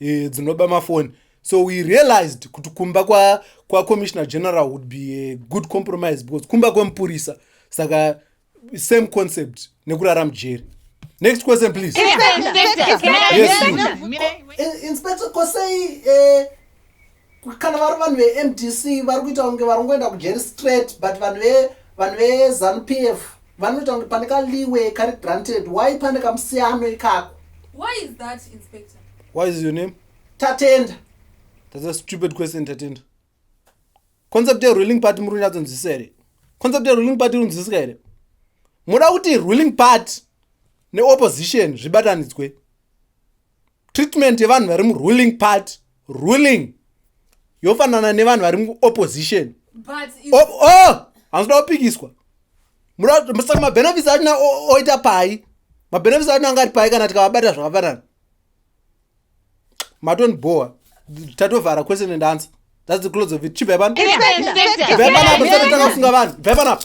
e, dzinoba mafoni so we realized kuti kumba kwacommissioner kwa general would be a good compromise because kumba kwemupurisa saka same concept nekurara mujeri next question please inspector kosei eh, Kana vari vanhu veMDC vari kuita kunge vari kungoenda kujeri straight but vanhu ve vanhu veZanu PF vanoita kunge pane kaliwe kari granted why pane kamusiyano ikako. Why is that inspector? Why is your name? Tatenda. That's a stupid question Tatenda. Concept ye ruling party muri kunyatso nzwisisa here? Concept ye ruling party iri kunzwisika here? Moda kuti ruling party neopposition zvibatanidzwe. treatment yevanhu vari muruling party ruling yofanana nevanhu vari muopposition oh, hanzoda kupikiswa saka mabenefits achina oita pai mabenefits achina anga ari pai kana tikavabata zvakafanana matoni boa tatovhara question and answer thats the close of it chibvai pano bvai panapo tisati takafunga vanhu bvai panapo